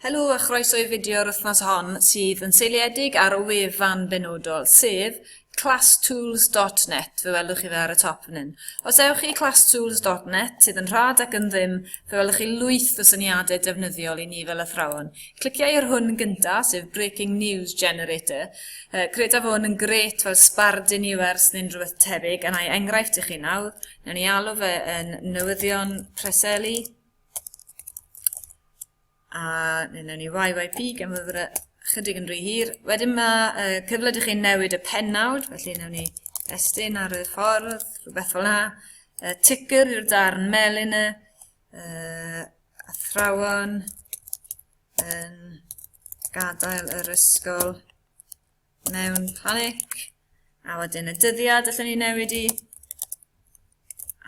Helo a chroeso i fideo'r wythnos hon sydd yn seiliedig ar y wefan benodol, sef classtools.net, fe welwch chi fe ar y top yn hyn. Os ewch i classtools.net, sydd yn rhad ac yn ddim, fe welwch chi lwyth o syniadau defnyddiol i ni fel athrawon. Cliciau ar hwn gyntaf, sef Breaking News Generator. Uh, credaf hwn yn gret fel sbardun i wers neu'n rhywbeth tebyg, yna i enghraifft i chi nawr, newn ni alw fe yn newyddion preseli, A neu newn ni YYP gan fod yr chydig yn rhy hir. Wedyn mae uh, cyfle i chi newid y pennawd, felly newn ni estyn ar y ffordd, rhywbeth fel yna. Uh, ticker yw'r darn melyn y uh, athrawon yn gadael yr ysgol. mewn panic. A wedyn y dyddiad allwn ni newid i.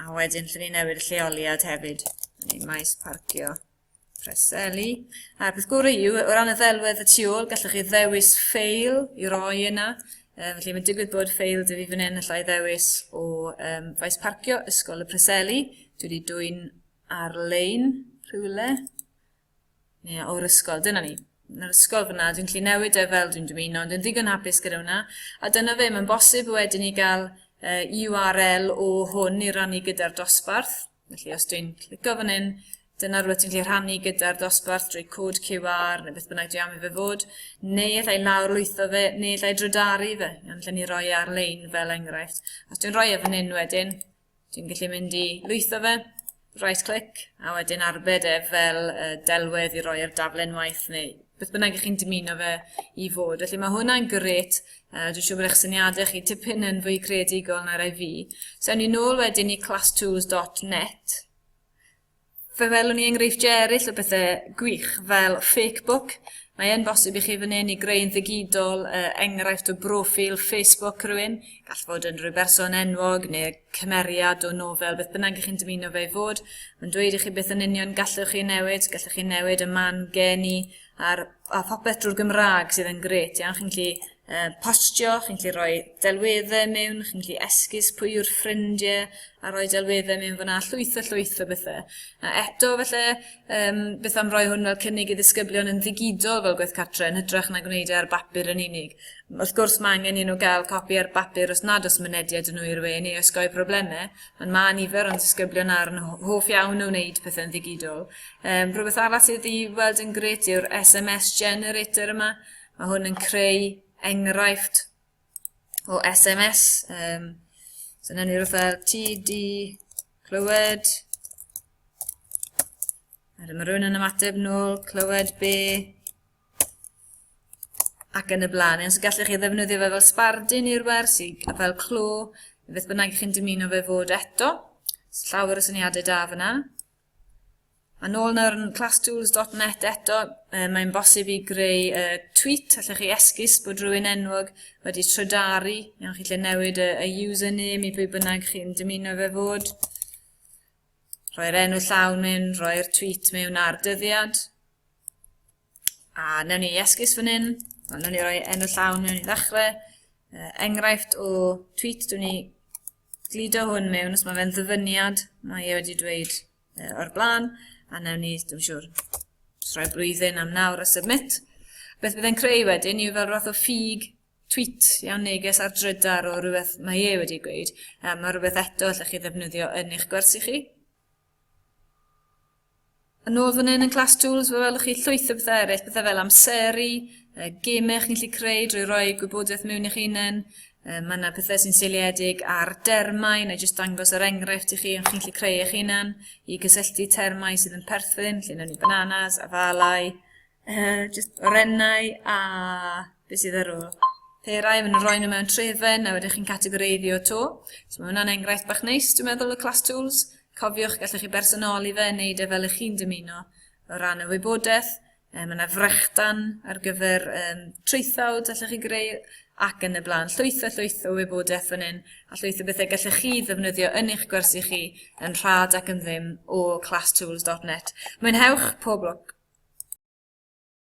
A wedyn allwn ni newid y lleoliad hefyd. Ni maes parcio Preseli. A'r peth gorau yw, o ran y ddelwedd y tu ôl, gallwch chi ddewis ffeil i roi yna. E, felly mae'n digwydd bod ffeil dwi fi fan hyn allai ddewis o um, faes parcio Ysgol y Preseli. Dwi wedi dwy'n ar-lein rhywle. Ie, o'r ysgol, dyna ni. Yn yr ysgol fyna, dwi'n gallu newid e fel dwi'n dymuno, ond yn ddigon hapus gyda hwnna. A dyna fe, mae'n bosib wedyn i gael uh, URL o hwn i rannu gyda'r dosbarth. Felly os dwi'n clicio fan hyn, dyna rhywbeth dwi'n gallu rhannu gyda'r dosbarth drwy cod QR neu beth bynnag dwi am i fe fod, neu allai lawr lwytho fe, neu allai drydaru fe, ond lle ni roi e ar-lein fel enghraifft. Os dwi'n rhoi e fan hyn wedyn, Dwi'n gallu mynd i lwytho fe, right click, a wedyn arbed e fel uh, delwedd i roi ar darllen waith neu beth bynnag ych chi'n dymuno fe i fod. Felly mae hwnna'n gret, uh, dwi'n siŵr bod eich syniadau chi tipyn yn fwy creadigol na rai fi. So ewn ni nôl wedyn i classtools.net, Fe welwn ni enghreifftiau eraill o bethau gwych, fel Fakebook. Mae e'n bosib i chi fan hyn i greu'n ddigidol uh, enghraifft o broffil Facebook rhywun. Gall fod yn rhyw berson enwog neu cymeriad o nofel, beth bynnag i chi'n dymuno fe i fod. Mae'n dweud i chi beth yn union gallwch chi newid, gallwch chi newid y man geni, a'r, a phopeth drwy'r Gymraeg sydd yn gret iawn. Chi'n gallu uh, postio, chi'n gallu rhoi delweddau mewn, chi'n gallu esgus pwy yw'r ffrindiau a rhoi delweddau mewn fyna, llwyth a llwyth o bethau. A eto, felly, um, beth am roi hwn fel cynnig i ddisgyblion yn ddigidol fel gwaith cartre yn hytrach na gwneud e ar bapur yn unig. Wrth gwrs, mae angen i nhw gael copi ar bapur os nad os mynediad yn nhw i'r we neu osgoi problemau, ond mae nifer o'n disgyblion ar yn hoff iawn o wneud pethau'n ddigidol, Um, rhywbeth arall sydd i weld yn gret yw'r SMS generator yma. Mae hwn yn creu enghraifft o SMS. Um, so yna ni rhywbeth fel TD clywed. A dyma rhywun yn ymateb nôl, clywed be ac yn y blaen. Os gallech chi ddefnyddio fe fel sbardun i'r wers, fel clo, beth bynnag chi'n dymuno fe fod eto. Llawer o syniadau da fyna. A nôl nawr yn classtools.net eto, e, mae'n bosib i greu e, tweet, allech chi esgus bod rhywun enwog wedi trydari, iawn chi lle newid y, y username i bwy bynnag chi'n dymuno fe fod, rhoi'r enw llawn mewn, rhoi'r tweet mewn ar dyddiad, a newn ni esgus fan hyn, newn ni roi enw llawn mewn i ddechrau, e, enghraifft o tweet dwi'n ni gludo hwn mewn os mae fe'n ddyfyniad, mae e wedi dweud uh, o'r blaen, a newn ni, dwi'n siŵr, rhoi blwyddyn am nawr a submit. Beth byddai'n creu wedyn yw fel rhath o ffug tweet iawn neges ar drydar o rhywbeth mae e wedi gweud. Um, mae rhywbeth eto allech chi ddefnyddio yn eich gwersi chi. Yn ôl fan hyn yn Class Tools, fe welwch chi llwyth o bethau eraill, bethau fel amseru, uh, gemau chi'n gallu creu drwy roi gwybodaeth mewn i'ch hunain, uh, mae yna pethau sy'n seiliedig ar dermau, neu jyst dangos yr enghraifft i chi, ond chi'n gallu creu eich hunan i gysylltu termau sydd yn perthyn, lle newn ni bananas, afalau, Uh, just orennau a beth sydd ar ôl. Perau, maen nhw'n rhoi nhw mewn trefen a wedyn chi'n categoreiddio to. So mae hwnna'n enghraifft bach neis, dwi'n meddwl, y class tools. Cofiwch, gallwch chi bersonoli fe, wneud e fel ych chi'n dymuno o ran y wybodaeth. Um, mae yna frechdan ar gyfer um, traethawd allwch chi greu ac yn y blaen. Llwyth a llwyth o wybodaeth fan hyn, a llwyth o bethau gallech chi ddefnyddio yn eich gwersi chi yn rhad ac yn ddim o classtools.net. Mwynhewch pob lwc!